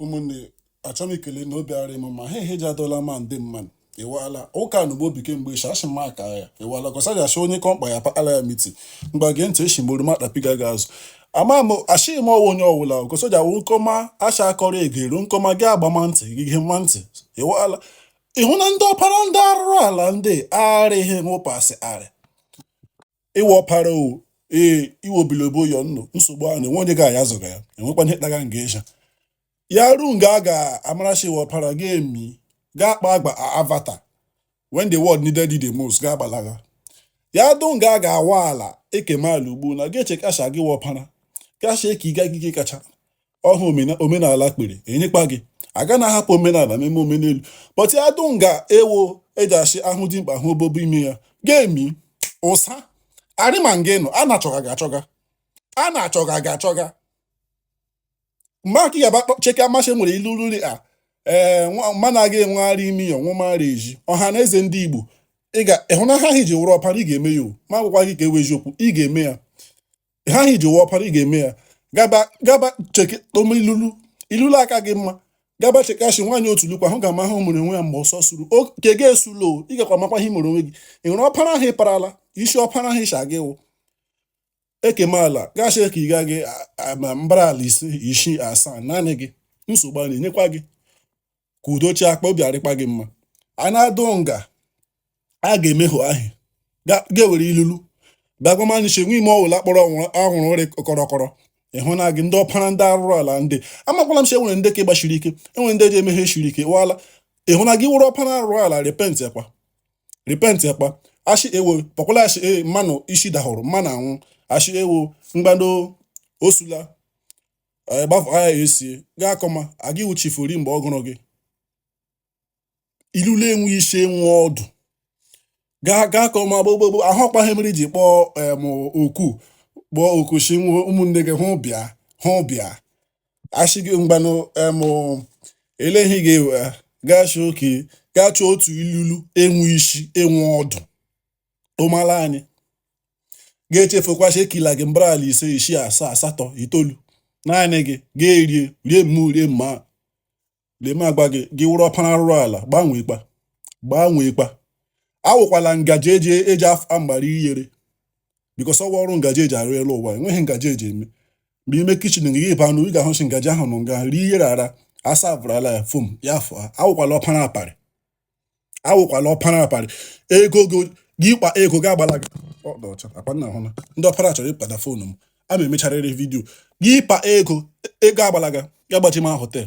ụmụnne achọm ikele na obi arị m mma ha ihe ji adọla ma ndị mmadụ ewala ụka na ugbo bike mgbe echi achị maka ya ewala gọsajasị onye kọmkpa ya pakala ya miti mgbe gee ntị echi mgbe makpapiga ga azụ ama m asịghị m ọ wụ onye ọwụla gọsoja wụ nkọma acha akọrọ egere nkọma gị agbama ntị gị ihe mma ntị ewala ịhụ na ndị ọpara ndị arụrụ ala ndị arịghị nwụpasị arị ị wụ ọpara o ee iwe obilobo yọ nnụ nsogbu ahụ na-enwe onye ga-aya zụga ya enwekwa ihe kpara nga ịsha ya ruo nga a ga-amara sị ị wụ ọpara ga-emi ga-akpa agba avatar when the world needed you the most ga-agbalaga ya dụ nga a ga-awa ala e kema ala ugbo na ga-eche sị gị wụ ọpara gị asị eke ịga gị kacha ọhụ omenala kpere enyekwa gị aga na ahapụ omenala meme omenelu but ya dụ nga ewo eji achị ahụ dị mkpa hụ obobo ime ya ga-emi ụsa arịma nga ị nọ a na-achọga gị achọga a na-achọga gị achọga mgbe aka ya cheke amasị nwere ilulu rị a ee mana aga enwegharị imi ya ọnwụmara eji ọha na eze ndị igbo ịhụ na ihe ahụ i ji wụrụ ọpara ị ga-eme ya o ma agwakwa gị ka ewe eziokwu ị ga-eme ya ihe ahụ i ji wụrụ ọpara ị ga-eme ya gaba gaba cheke toma ilulu ilulu aka gị mma gaba chekashi nwaanyị otu lukwa hụ ga-ama ihe mere onwe ya mgbe ọsọ suru nke gị esula o ị gakwa makwa ihe mere onwe gị ị hụrụ ọpara ahụ ị parala isi ọpara ahụ ị sị gị wụ e kema ala gị asị ka ị ga gị a- a- ma mbara ala ise isii asaa naanị gị nsogbu a na-enyekwa gị ka udo chi akpa obi arịkpa gị mma a na-adụ nga a ga-emehụ ahụ ga-ewere ilulu bagwamanchi nwe ime ọwụla kpọrọ ọhụrụ ụrị kọrọkọrọ ịhụ na gị ndị ọpara ndị arụrụ ala ndị amakwala m si enwere ndị ka ịgbachiri ike enwere ndị ji emeghe chiri ike wala ịhụ na gị wụrụ ọpara arụrụ ala repent ekwa repent ekwa asị ewo kpọkwala asị e mmanụ isi dahụrụ mmanụ anwụ asị ewo mgbado osula anyị gbafọ ha ya esie gaa akọma aga ị wụ chifu ri mgbe ọ gụrụ gị ilulu enwe isi enwe ọdụ gaa gaa akọma gbogbogbo ahụ ọ kpa ihe mere ji kpọọ em oku kpọọ oku si nwe ụmụnne gị hụ bịa hụ bịa asị gị mgbanụ em eleghị gị ewe gaa chọọ oke gaa chọọ otu ilulu enwe isi enwe ọdụ ụmala anyị ga-echefukwa sị e kela gị mbara ala ise isii asaa asatọ itoolu naanị gị ga-erie rie mma rie mma lee m agwa gị gị wụrụ ọpara arụrụ ala gbanweekwa gbanweekwa awụkwala ngaji eji eji agbara iyere because ọ wụ ọrụ ngaji eji arụ elu ụwa enweghị ngaji eji eme mgbe ime kitchen gị ịba anụ ị ga-ahụ sị ngaji ahụ nọ nga rie iyere ara asa abụrụla ya fom ya afọ awụkwala ọpara aparị awụkwala ọpara aparị ego gị ịkpa ego gị agbalaga ndị ọpara chọrọ ịkpata foonu m a ma emecharịrị vidiyo gị ịkpa ego gị agbalaga ga gbachi ma họtel